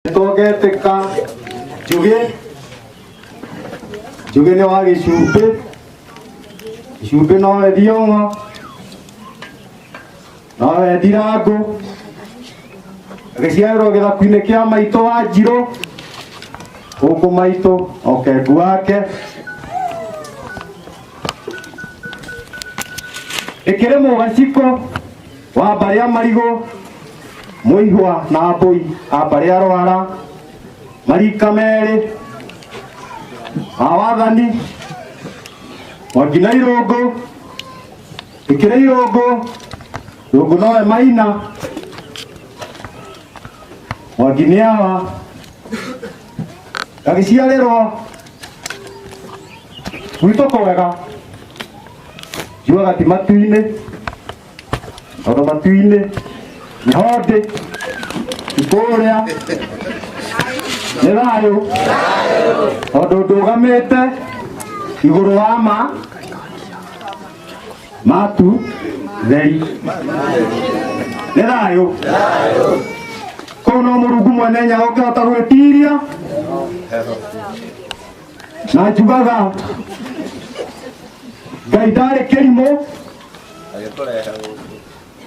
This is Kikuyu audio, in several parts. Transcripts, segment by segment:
Toge teka juge juge ni wa gicumbi gicumbi no wendia ng'o no wendira ngũ agĩciarĩrwo gĩthaku-inĩ kĩa maitũ wa njirũ gũkũ maitũ okengu wake ĩkĩrĩ mũgaciko wa mbarĩ ya marigũ mũihwa na mbũi a mbarĩ ya rwara marika merĩ a wathani mwangina irũngũ ĩkĩrĩ irũngũ irũngũ nowe maina mwangini awa gagĩciarĩrwo gwitũ kwega njuaga ti matu-inĩ Onomatu-inĩ, Nyondi, Ikũrĩa, nĩ thayũ, tondũ ndũgamĩte igũrũ wa ma, matu, theri. Nĩ thayũ. Kũu no Mũrungu mwene hinya ũngĩhota gwĩtiria, na njugaga Ngai ndarĩ kĩrimũ, agĩkũrehe gũkũ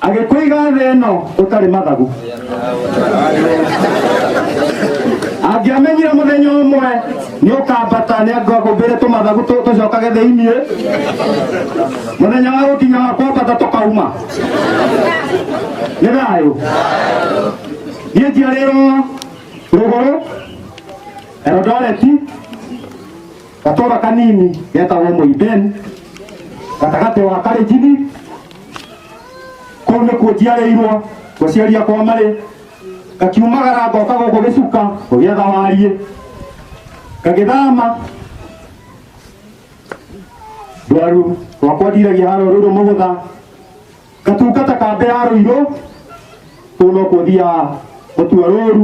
agĩkũiga thĩ ĩno ũtarĩ mathagu angĩamenyire mũthenya ũmwe nĩ ũkambata nĩ angũmbĩre tũmathagu tũ- tũcokage thĩiniĩ mũthenya wa gũkinya wa kwambata tũkauma nĩ thayũ niĩ njiarĩrwo rũgũrũ erodoreti gatũra kanini getagwo mũiben gatagatĩ wa karĩnjini kũu nĩkuo njiarĩirwo gũciaria kwa marĩ ngakiumagara ngoka gũkũ gĩcuka gũgĩetha wariĩ ngagĩthama ndwaru rwakwa ndiragia harũ rũrũ mũgũtha ngatungata kambĩ ya rũirũ kũu no kũthiaga gũtua rũru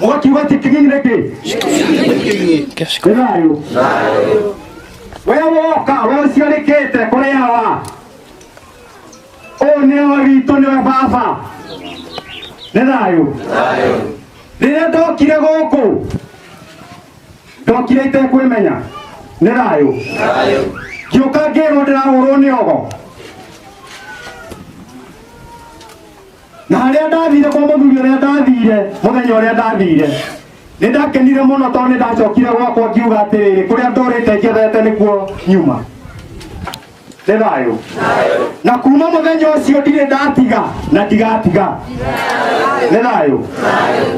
mũgakiuga ti kĩgĩi nĩ kĩ nĩ thayũ we woka we ũciarĩkĩte kũrĩ hawa ũyũ nĩ we witũ nĩwe baba nĩ thayũ rĩrĩa ndokire gũkũ ndokire itekwĩmenya nĩ thayũ ngĩũka ngĩrwo ndĩrahũrwo nĩ ogo na harĩa ndathire kwa mũthuri ũrĩa ndathire mũthenya ũrĩa ndathire nĩ ndakenire mũno tondũ nĩ ndacokire gwakwa ngiuga atĩrĩrĩ kũrĩa ndũrĩte njethete nĩkuo nyuma nĩ thayũ na kuma mũthenya ũcio ndirĩ ndatiga na ndigatiga nĩ thayũ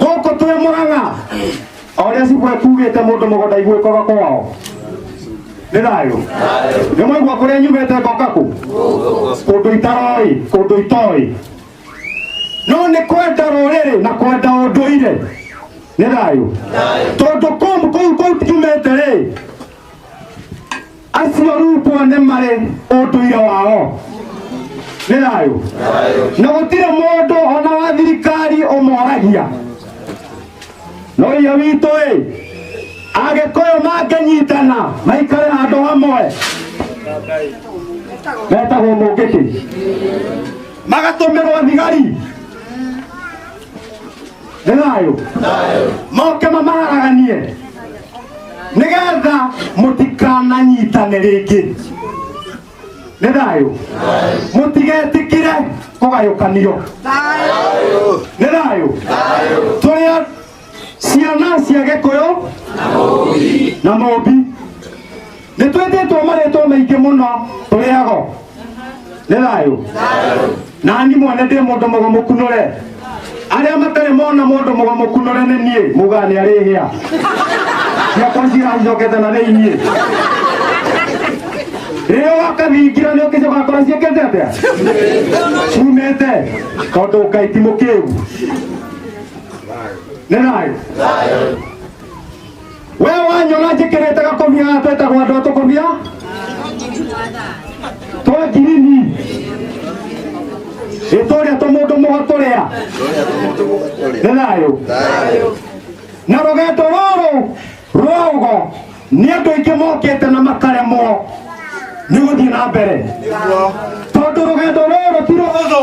gũkũ twĩ mũrang'a oria cibwe kugite mundu mugunda igwikoga kwao nĩ thayũ nĩ mwaigua kũrĩa nyumĩte ngoka kũ kũndũ itaroĩ kũndũ itoĩ no nĩ kwenda rũrĩrĩ na kwenda ũndũire nĩ thayũ tondũ kũu kũu kũu tiumĩte rĩ acio rutwo nĩ marĩ ũndũire wao nĩ thayũ na gũtirĩ mũndũ ona wa thirikari ũmoragia no iye witũ ĩ agĩkũyũ mangĩnyitana maikare handũ hamwe metagwo mũngĩkĩ magatũmĩrwo thigari nĩ thayũ moke mamaraganie nĩgetha mũtikananyitane rĩngĩ nĩ thayũ mũtigetĩkĩre kũgayũkanio nĩ thayũ tũrĩ a- ciana cia gĩkũyũ na mũmbi nĩ twĩtĩtwo marĩtwo maingĩ mũno tũrĩago nĩ thayũ na ni mwene ndĩ mũndũ mũgo mũkunũre arĩa matarĩ mona mũndũ mũgo mũkunũre nĩ niĩ muga nĩ arĩ hĩa ciakwa ciracokete na thĩiniĩ rĩrĩa wakathingira nĩ ũkĩcoka kora ciĩkĩte atĩa cumĩte tondũ ngai ti mũkĩgu nĩ thayũ we wanyona njĩkĩrĩte gakomia haha twetagwo andũ atũkomia twa ngirini ĩtũrĩa tũmũndũ mũgatũrĩa nĩ thayũ na rũgendo rũrũ rwa ũgo nĩ andũ aingĩ mokĩte na makaremwo nĩ gũthiĩ na mbere tondũ rũgendo rũrũ ti rũhũthũ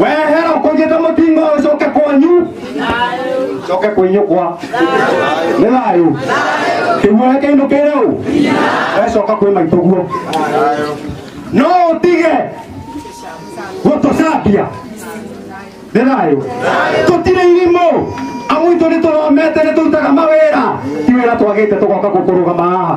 wehera kũgĩte mũtingo ũcoke kwanyu coke kwĩnyũkwa nĩ thayũ kĩguoya kĩinũkĩre ũ wecoka kwĩ maitũguo no ũtige gũtũcambia nĩ thayũ tũtirĩ irimũ amu itũ nĩ tũromete nĩ tũrutaga mawĩra ti wĩra twagĩte tũgoka gũkũrũgama haha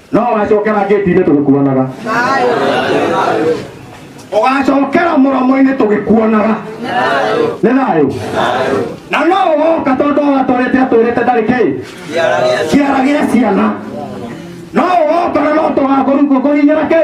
no wacokera ngĩti-inĩ tũgĩkuonaga ũgacokera mũromo-inĩ tũgĩkuonaga nĩ thayũ na no ũgoka tondũ watwarĩte atwĩrĩte ndarĩ kĩ kĩara gĩa ciana no ũgoka na no tũgakũrugũkũhinyĩra kĩ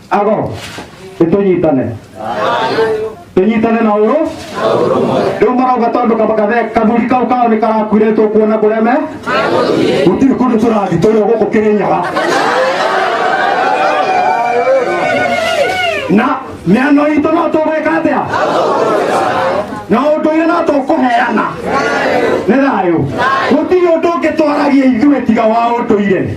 agoro nĩtũnyitane tũnyitane na ũrũ rĩu marauga tondũ kamakathe kathuri kau kao nĩ karakuire tũkuona kũrĩa me gũtirĩ kũndũ tũrathi tũrĩ o gũkũ kĩrĩnyaga na mĩano itũ no tũgwĩka atĩa na ũndũire no tũkũheana nĩ thayũ gũtirĩ ũndũ ũngĩtwaragia ithuĩ tiga wa ũndũire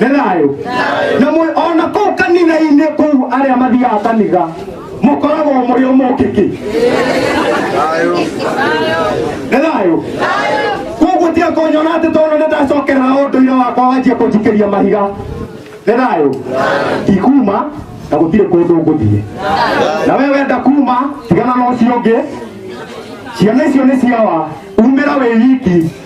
nĩ thayũ na mũ- ona kũu kanitha-inĩ kũu arĩa mathiaga kanitha mũkoragwo mũrĩ ũmũkĩki nĩ thayũ koguo tiga kũnyona atĩ tondũ nĩ ndacokerera ũndũire wakwa wanjia kũnjikĩria mahiga nĩ thayũ ndikuma na gũtirĩ kũndũ ngũthiĩ na we wenda kuma tigana na ũcio ũngĩ ciana icio nĩ ciawa umĩra wĩ wiki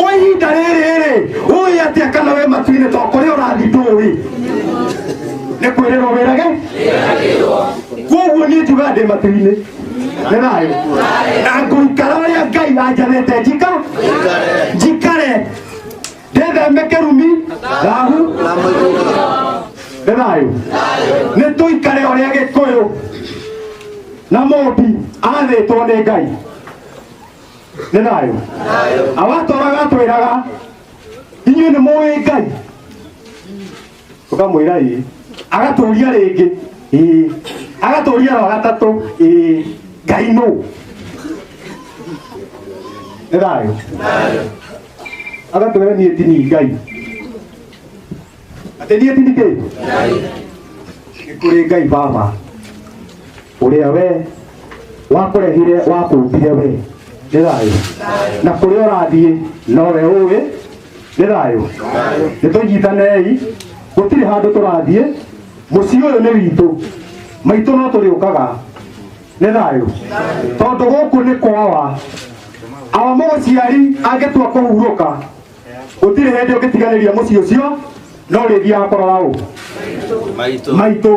kwa ihinda rĩrĩ rĩ ũĩ atĩa kana we matuinĩ to kũrĩa ũrathi ndũĩ nĩ kwĩrĩrwo wĩrage koguo niĩ njugaga ndĩ matuinĩ nĩ thayũ na ngũikara ũrĩa ngai anjanĩte njika njikare ndetheme kĩrumi thahu nĩ thayũ nĩ tũikare ũrĩa gĩkũyũ na mũmbi athĩtwo nĩ ngai nĩ thayũ awatũraga atwĩraga inyuĩ nĩ mũĩ ngai ũkamwĩra ĩĩ agatũria rĩngĩ ĩĩ agatũria wa gatatũ ĩĩ ngai nũ nĩ thayũ agatwĩra niĩ ti ni ngai atĩ niĩ ti ni kĩ nĩ kũrĩ ngai baba ũrĩa we wakũrehire wakũmbire we nĩ thayũ na kũrĩa ũrathiĩ nowe ũĩ nĩ thayũ nĩ tũnyitanei gũtirĩ handũ tũrathiĩ mũciĩ ũyũ nĩ witũ maitũ no tũrĩũkaga nĩ thayũ tondũ gũkũ nĩ kwawa awa mũgũciari angĩtua kũhurũka gũtirĩ hĩndĩ ũngĩtiganĩria mũciĩ ũcio no rĩthiaga kũrora ũ maitũ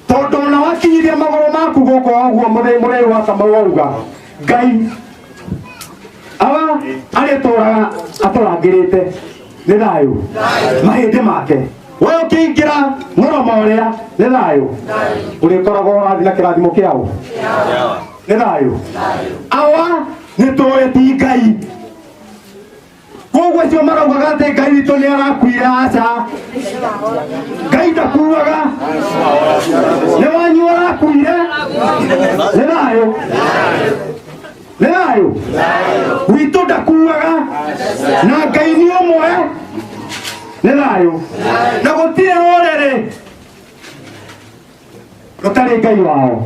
tondũ ona wakinyithia magũrũ maku gũkũ ũguo mũthĩ mũrĩu wa kamau wauga ngai aba arĩtũraga atũrangĩrĩte nĩ thayũ mahĩndĩ make we ũkĩingĩra mũromo ũrĩa nĩ thayũ ũrĩkoragwo ũrathi na kĩrathimo kĩao nĩ thayũ awa nĩ tũĩ ti ngai koguo acio maraugaga atĩ ngai witũ nĩ arakuire aca ngai ndakuaga nĩ wanyu arakuire nĩ thayũ nĩ thayũ witũ ndakuaga na ngai nĩ ũmwe nĩ thayũ na gũtirĩ rũrĩrĩ rũtarĩ ngai wao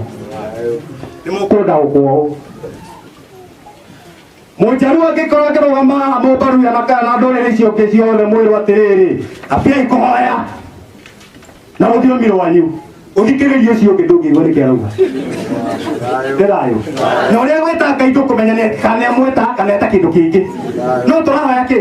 nĩ mũkũnda gũkwaũ mũnjaruo angĩkorwo akĩrũgama haha mũmbaruya na kana na ndũrĩrĩ icio ũngĩ ciothe mwĩrwo atĩrĩrĩ ambiai kũhoya na rũthiomi rwanyu ũthikĩrĩrie ũcio ũngĩ ndũngĩigua nĩkĩ arauga nĩ thayũ na ũrĩa gwĩta ngai ndũkũmenya nĩ- kana nĩamwĩta kana eta kĩndũ kĩngĩ no tũrahoya kĩ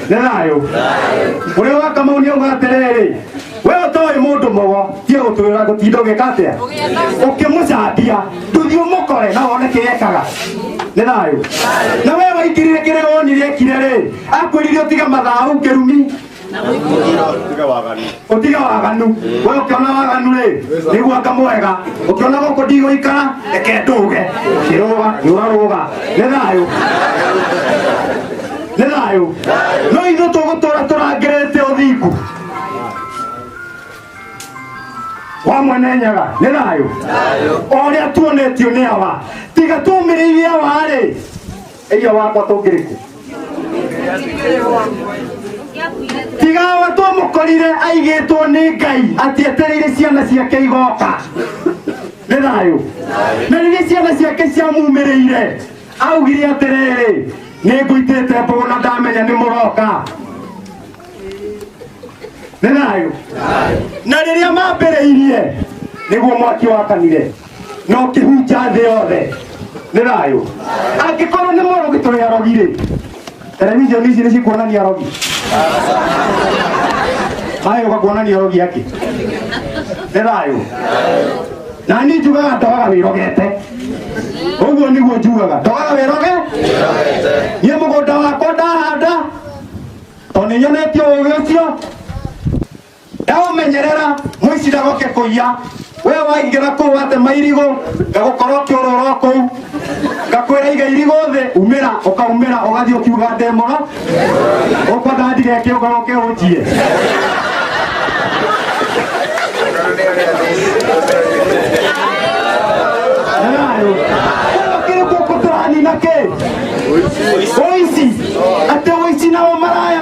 nĩ thayũ ũrĩa wa kamau nĩ uga atĩrĩrĩ we ũtoĩ mũndũ mũgo tiĩ gũtwĩra gũtinda ũgĩka atĩa ũkĩmũcambia ndũthiĩ ũmũkore na wone kĩrĩa ekaga nĩ thayũ na we waingĩrire kĩrĩa wonire ekire rĩ akwĩrire ũtige mathaa hau kĩrumi utiga waganu we ukiona waganu ri niguaka mwega ukiona guku ndigũikara reke ndũge kĩrũga nyũrarũga nĩ thayũ nĩ thayũ no ithu tũgũtũra tũrangĩrĩte ũthingu wa mwene nyaga nĩ thayũ o ũrĩa tuonetio nĩ awa tiga tũmĩrĩirie awa-rĩ Eria wakwa tũngĩrĩkũ tigawa twamũkorire aigĩtwo nĩ ngai atĩ etereire ciana ciake igoka nĩ thayũ na rĩrĩa ciana ciake ciamumĩrĩire augire atĩrĩrĩ nĩ ngũitĩte mbũgũ na ndamenya nĩ mũroka nĩ thayũ na rĩrĩa mambĩrĩirie nĩguo mwaki wakanire no kĩhunja thĩ yothe nĩ thayũ angĩkorwo nĩ mũrogi tũrĩ arogi rĩ televishoni ici nĩ cikuonania arogi maĩ ũkakuonania arogi akĩ nĩ thayũ na niĩ njugaga ndogaga wĩrogete ũguo nĩguo njugaga ndogaga wĩroge niĩ mũgũnda wakwa ndahanda tondũ nĩnyonetio ũgĩ ũcio ndaũmenyerera mũici ndagoke kũiya we waingĩra kũu watema irigũ ngagũkorwo kĩũrũro kũu ngakwĩra iga irigũ thĩ umĩra ũkaumĩra ũgathiĩ ũkiuga ndemoro ũkwenda ndigeke ũgaroke ũnjie kĩrĩkũkũtũranina kĩ ũici atĩ ũici nao maraya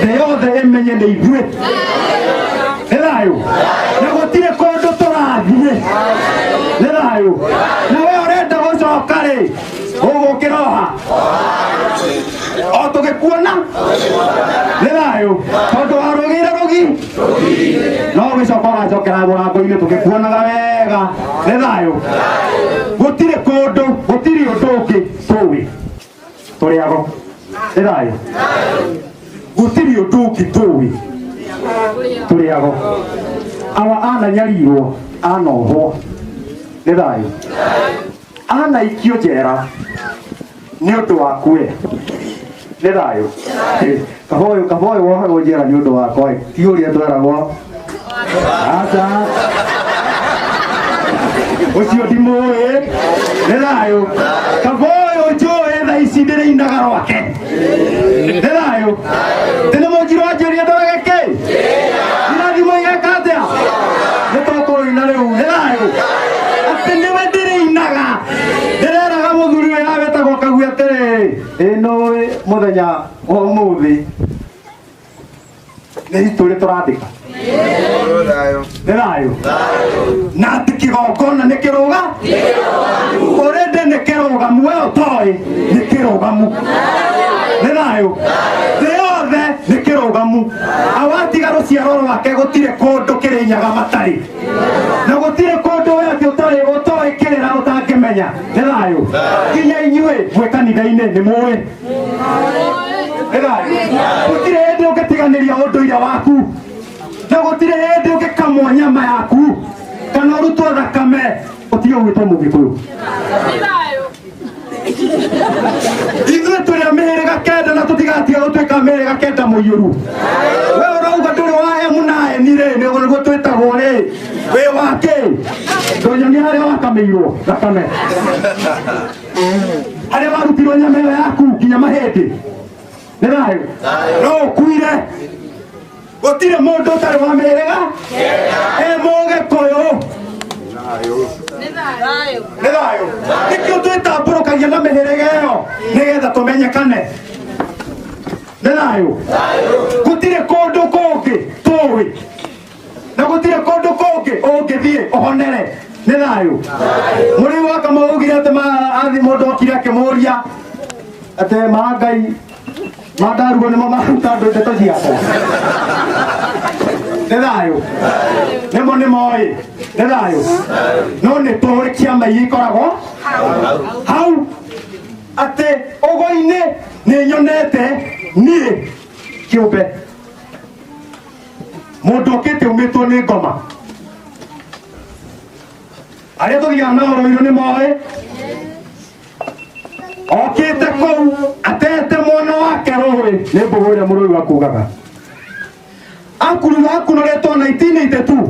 thĩ yothe ĩmenye nĩ ithuĩ nĩ thayũ na gũtirĩ kũndũ tũrathiĩ nĩ thayũ na we ũrenda gũcoka rĩ ũgũkĩra oha o tũgĩkuona nĩ thayũ tondũ warũgĩire rũgi no gĩcoka ũgacokera mũrango-inĩ tũgĩkuonaga wega nĩ thayũ gũtirĩ kũndũ gũtirĩ ũndũ ũngĩ tũĩ tũrĩ ago ĩthayũ gũtirĩ ũndũ ũngĩ tũĩ tũrĩ ago awa ananyarirwo anohwo nĩ thayũ anaikio njera nĩ ũndũ wakuwe nĩ thayũ kaba ũyũ kaba ũyũ wohe ũnjĩra nĩ ũndũ wakwa ĩ ti ũrĩa tweragwo aca ũcio ndimũĩ nĩ thayũ kaba ũyũ njũĩ tha ici ndĩrĩinaga rwake nĩ thayũ tene mũnjirwo anjĩria ndorage kĩ irathimo igeka atĩa nĩ tũkũrũina rĩu nĩ thayũ atĩ nĩwe ndĩrĩinaga ndĩreraga mũthuri ũyũ awĩtagwo kagu atĩrĩ ĩno mũthenya ũmũthĩ nĩ itũrĩ tũrandĩka nĩ thayũ na atĩ kĩgongona nĩ kĩrũga ũrĩndĩ nĩ kĩrũgamu we ũtoĩ nĩ kĩrũgamu nĩ thayũ thĩ yothe nĩ kĩrũgamu awatiga rũciaro rwake gũtirĩ kũndũ kĩrĩ nyaga matarĩ na gũtirĩ kũndũ we atĩ ũtarĩ ũtoĩ kĩrĩra ũtangĩmenya nĩ thayũ nginya inyuĩ mwĩ kanitha-inĩ nĩ mũĩ gutire hindi ungitiganiria unduire waku na gutire hindi ungikamwo nyama yaku kana urutwo thakame utige gwitwo mugikuyu ithuĩ tũrĩ a mĩhĩrĩga kenda na tũtigatiga gũtuĩka a mĩhĩrĩga kenda mũiyũru we ũrauga ndũrĩ wa emu na eni rĩ nĩguo nĩguo twĩtagwo rĩ wĩ wakĩ ndũnyonia harĩa wakamĩirwo thakame arĩa marutirwo nyama ĩyo yaku nginya mahĩndĩ nĩ thayũ no ũkuire gũtirĩ mũndũ ũtarĩ wa mĩrĩga e mũgĩkũyũ nĩ thayũ nĩkĩo twĩtambũrũkagia na mĩhĩrĩga ĩyo nĩgetha tũmenyekane nĩ thayũ gũtirĩ kũndũ kũngĩ tũĩ na gũtirĩ kũndũ kũngĩ ũngĩthiĩ ũhonere nĩ thayũ mũrĩ waka maugire atĩ maathi mũndũ okire akĩmũria atĩ maa ngai mandaruo nĩmo maruta andũ ndeto ciakwa nĩ thayũ nĩmo nĩmo ĩ nĩ thayũ no nĩ tũĩ ciama iria ikoragwo hau atĩ ũgoi-inĩ nĩ nyonete niĩ kĩũmbe mũndũ ũkĩte umĩtwo nĩ ngoma arĩa tũthiaga na ũrũirũ nĩ moĩ okĩte kũu atete mwana wake rũĩ nĩ mbũgũ ĩrĩa mũrũi wa kugaga akuruga akunũrĩtwo 1982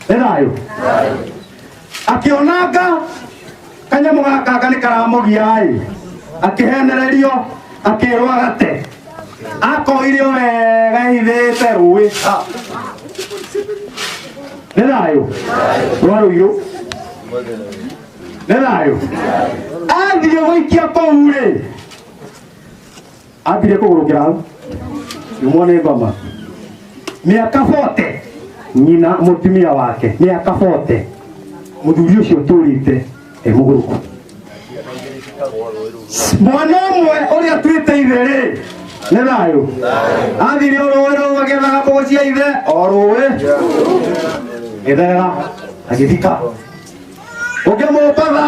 nĩ thayũ akĩonanga kanyamũ gakanga nĩ karamũgia-ĩ akĩhenererio akĩrwo agate akoirio wega ithĩte rũĩ nĩ thayũ rwarũirũ nĩ thayũ athiĩ gũikia kũu-rĩ ambire kũgũrũkĩra hau nyumwo nĩ ngoma mĩaka bote nyina mũtumia wake mĩaka bote mũthuri ũcio tũrĩte e mũgũrũku mwana ũmwe ũrĩa twĩte ithe rĩ nĩ thayũ athire o rũĩ rũu agethaga mbogo cia ithe o rũĩ gĩthera agĩthika ũngĩ mũmbatha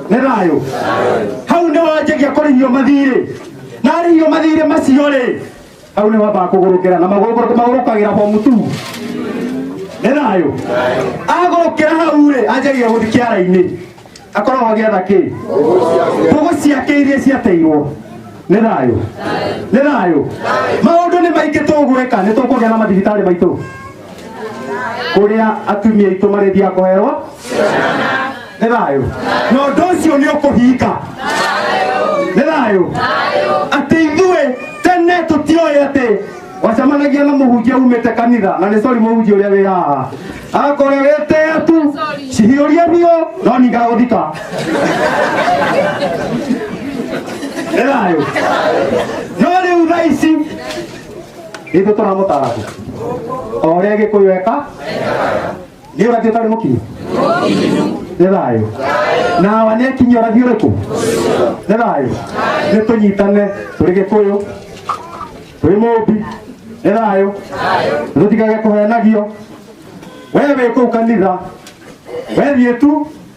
nĩ thayũ hau nĩ wanjagia kũrĩhio mathirĩ narĩhio mathirĩ macio rĩ hau nĩ wambaga kũgũrũkĩra na magũrũkĩra- magũrũkagĩra bomu tu nĩ thayũ agũrũkĩra hau rĩ anjagia gũthi kĩara-inĩ akoragwo agĩatha kĩ mbũgũ ciake iria ciateirwo nĩ thayũ nĩ thayũ maũndũ nĩ maingĩ tũgwĩka nĩ tũkũgĩa na mathibitarĩ maitũ kũrĩa atumia aitũ marĩthia kũherwo nĩ thayũ na ũndũ ũcio nĩ ũkũhinga nĩ thayũ atĩ ithuĩ tene tũtioĩ atĩ wacemanagia na mũhunjia umĩte kanitha na nĩ sori mũhunjia ũrĩa wĩ haha akorwo wĩtea tu cihiũria biũ no nigagũthika nĩ thayũ no rĩu thaa ici ithu turamutaragu o ria gikuyu eka ni urathi utari mukinyu nĩ thayũ na awa nĩ akinyi ũrathi ũrĩkũ nĩ thayũ nĩ tũnyitane tũrĩ gĩkũyũ tũrĩ mũmbi nĩ thayũ tũtikage kũhenagio we wĩ kũu kanitha we thiĩ tu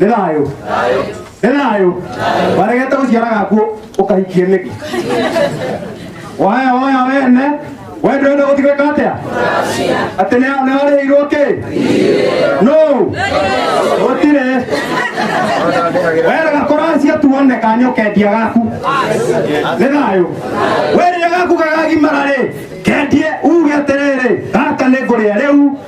nĩ thayũ nĩ thayũ waregete gũciara gakuo ũkahikie nĩkĩ waya waya wene we ndwende gũtigĩka atĩa atĩ nĩ- nĩ warĩhĩirwo kĩ no gũtirĩ werega kũracia tuone kanyokendia gaku nĩ thayũ werĩa gaku gagagimara rĩ kendie uge atĩrĩrĩ gaka nĩ ngũrĩa rĩu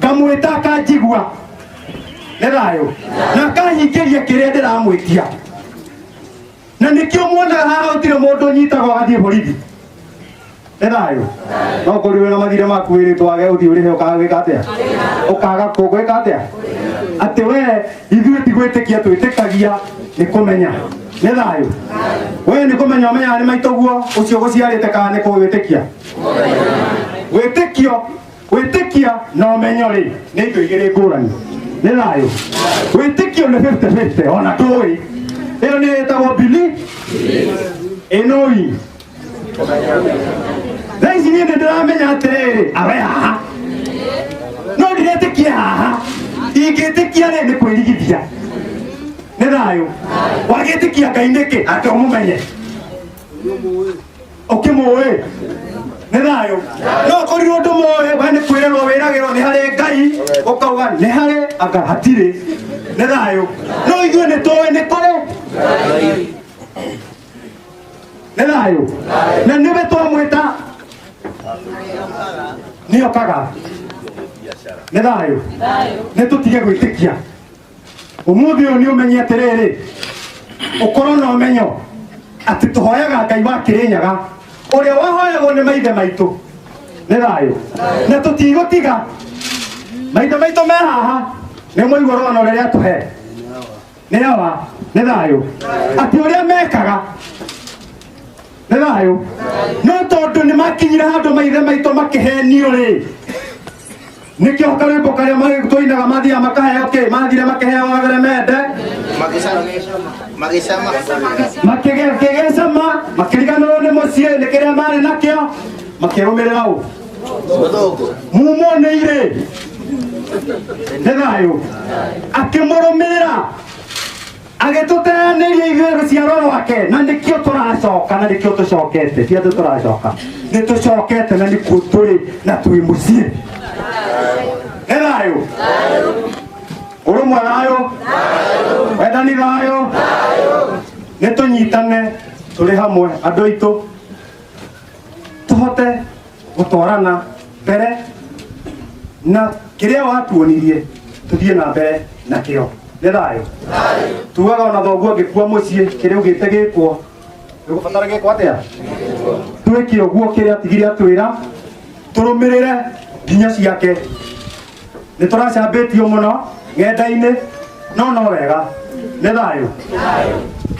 ngamwĩta akanjigua nĩ thayũ na akahingĩria kĩrĩa ndĩramwĩtia na nĩkĩo muonaga haha gũtirĩ mũndũ ũnyitagwo agathiĩ borithi nĩ thayũ no kũriwe na mathire maku wĩrĩtwo wage ũthiĩ ũrĩhe ũkagwĩka atĩa ũkaga kũgwĩka atĩa atĩ we ithuĩ tigwĩtĩkia twĩtĩkagia nĩ kũmenya nĩ thayũ we nĩ kũmenya ũmenyaga nĩ maitũguo ũcio gũciarĩte kana nĩ kũwĩtĩkia wĩtĩkio wĩtĩkia na ũmenyo rĩ nĩ indo igĩrĩ ngũrani nĩ thayũ wĩtĩkio nĩ 50-50 ona ndũĩ ĩyo nĩ ĩtagwo bili ĩnoi thaa ici niĩ nĩ ndĩramenya atĩrĩrĩ awe haha no ndiretĩkia haha ingĩtĩkia rĩ nĩ kwĩrigithia nĩ thayũ wagĩtĩkia ngai nĩkĩ ate ũmũmenye ũkĩmũĩ nĩ thayũ no korirwo ndũmũĩ we nĩ kwĩrerwo wĩragĩrwo nĩ harĩ ngai ũkauga nĩ harĩ anga hatirĩ nĩ thayũ no ithuĩ nĩ tũĩ nĩ kũrĩ nĩ thayũ na nĩwe twamwĩta nĩokaga nĩ thayũ nĩ tũtige gwĩtĩkia umuthi uyu ni umenye atiriri ukorwo na umenyo ati tuhoyaga ngai wa kirinyaga uria wahoyagwo ni maithe maitu ni thayu na tutigutiga maithe maitu me haha ni muigua rwano riria tuhe ni awa ni thayu ati uria mekaga nä thayå no tondå nä makinyire handå maithe maitå makä henio rä nikio karimbo karia magikuinaga mathia makaheo ki mathire makiheo agere mende Magisema. makigecama makiriganirwo ni mucii ni kiria mari nakio makirumirira u Muthungu. mumonire nĩ thayũ akĩmũrũmĩrĩra agĩtũteanĩria ithuĩ rũciaro rwake na nĩkĩo tũracoka na nĩkĩo tũcokete ti andũ tũracoka nĩ tũcokete na nĩkuo tũrĩ na twĩ mũciĩ nĩ thayũ ũrũmwe thayũ wendani thayũ nĩ tũnyitane tũrĩ hamwe andũ aitũ tũhote gũtwarana mbere na kĩrĩa watuonirie tũthiĩ na mbere na kĩo nĩ thayũ tugaga ona thoguo angĩkua mũciĩ kĩrĩa ugĩte gĩkwo gĩgũbatara gĩkwo atĩa twĩke ũguo kĩrĩa atigire atwĩra tũrũmĩrĩre nginya ciake nĩ tũracambĩtio mũno ng'enda-inĩ no no wega nĩ thayũ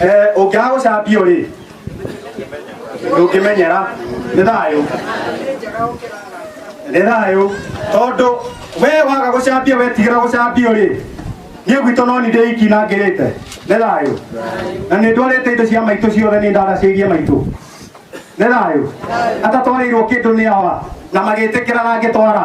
Eh, ũngĩaga gũcambio rĩ ndũngĩmenyera nĩ thayũ nĩ thayũ tondũ we waga gũcambia wetigĩra gũcambio rĩ niĩ gwitũ no nĩ ndĩiki na ngĩrĩte nĩ thayũ na nĩ ndwarĩte indo cia maitũ ciothe nĩ ndandacĩirie maitũ nĩ thayũ atatwarĩirwo kĩndũ nĩ awa na magĩtĩkĩra na ngĩtwara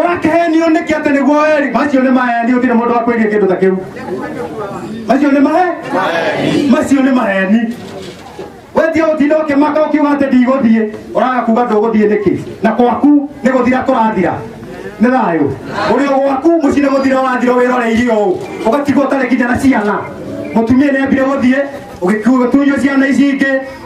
ũrakehenio nĩkĩ atĩ nĩguo eri macio nĩ maheni ũtirĩ mũndũ wa kwĩria kĩndũ ta kĩu macio nĩ mahe macio nĩ maheni wendia ũtinda ũkĩmaka ũkiuga atĩ ndigũthiĩ ũraga kuga ndũgũthiĩ nĩkĩ na kwaku nĩ gũthira kũrathira nĩ thayũ ũrĩ o gwaku mũciĩ nĩ gũthira wathira wĩroreire ũũ ũgatigwo ũtarĩ nginya na ciana mũtumia nĩ ambire gũthiĩ ũgĩtunywo ciana ici ingĩ